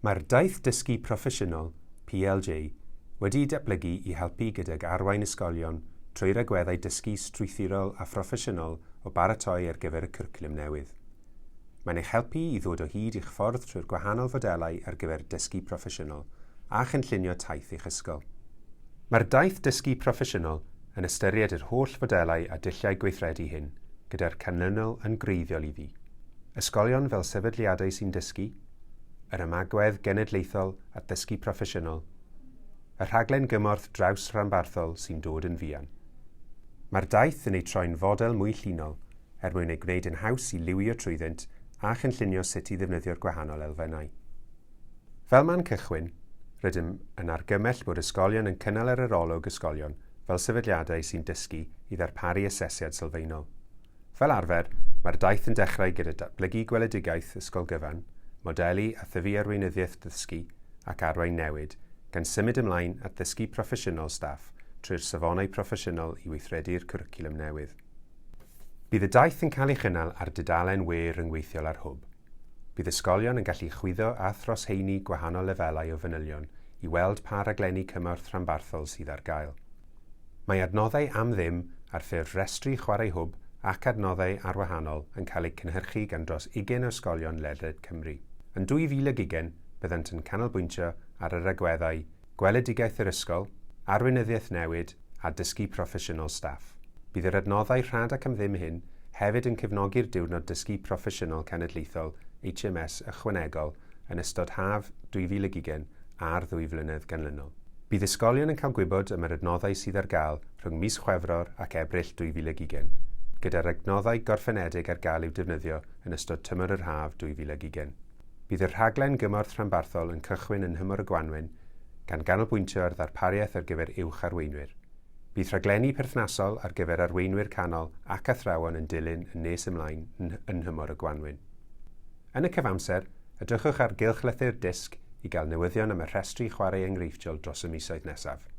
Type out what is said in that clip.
Mae'r Daith Dysgu Proffesiynol, PLJ, wedi'i datblygu i helpu gydag arwain ysgolion trwy'r agweddau dysgu strwythurol a phroffesiynol o baratoi ar gyfer y cwricwlwm newydd. Mae'n eich helpu i ddod o hyd i'ch ffordd trwy'r gwahanol fodelau ar gyfer dysgu proffesiynol a chynllunio taith eich ysgol. Mae'r Daith Dysgu Proffesiynol yn ystyried yr holl fodelau a dulliau gweithredu hyn, gyda'r canlynol yn gwreiddiol iddi, ysgolion fel sefydliadau sy'n dysgu, yr Ymagwedd Genedlaethol at Ddysgu Proffesiynol, y rhaglen gymorth draws-ranbarthol sy'n dod yn fuan. Mae'r daith yn eu troi'n fodel mwy llinol er mwyn ei gwneud yn haws i liwio trwyddynt a chynllunio sut i ddefnyddio'r gwahanol elfennau. Fel man cychwyn, rydym yn argymell bod ysgolion yn cynnal yr arolwg ysgolion fel sefydliadau sy'n dysgu i ddarparu asesiad sylfaenol. Fel arfer, mae'r daith yn dechrau gyda datblygu gweledigaeth ysgol gyfan, modelu a thyfu arweinyddiaeth ddysgu ac arwain newid, gan symud ymlaen at ddysgu proffesiynol staff trwy'r safonau proffesiynol i weithredu'r cwricwlwm newydd. Bydd y daith yn cael ei chynnal ar dudalen we ryngweithiol ar Hwb. Bydd ysgolion yn gallu chwyddo a throsheini gwahanol lefelau o fanylion i weld pa raglenni cymorth rhanbarthol sydd ar gael. Mae adnoddau am ddim ar ffurf rhestri chwarae hwb ac adnoddau arwahanol yn cael eu cynhyrchu gan dros ugain o ysgolion ledled Cymru. Yn 2020, byddant yn canolbwyntio ar yr agweddau Gweledigaeth yr Ysgol, Arweinyddiaeth Newid a Dysgu Proffesiynol Staff. Bydd yr adnoddau rhad ac am ddim hyn hefyd yn cefnogi'r Diwrnod Dysgu Proffesiynol Cenedlaethol HMS ychwanegol yn ystod haf 2020 a'r ddwy flynedd ganlynol. Bydd ysgolion yn cael gwybod am yr adnoddau sydd ar gael rhwng mis Chwefror ac Ebrill 2020, gyda'r adnoddau gorffenedig ar gael i'w defnyddio yn ystod tymor yr haf 2020. Bydd y rhaglen gymorth rhanbarthol yn cychwyn yn nhymor y gwanwyn, gan ganolbwyntio ar ddarpariaeth ar gyfer uwch arweinwyr. Bydd rhaglenni perthnasol ar gyfer arweinwyr canol ac athrawon yn dilyn yn nes ymlaen yn nhymor y gwanwyn. Yn y cyfamser, edrychwch ar gylchlythyr dysg i gael newyddion am y rhestri chwarae enghreifftiol dros y misoedd nesaf.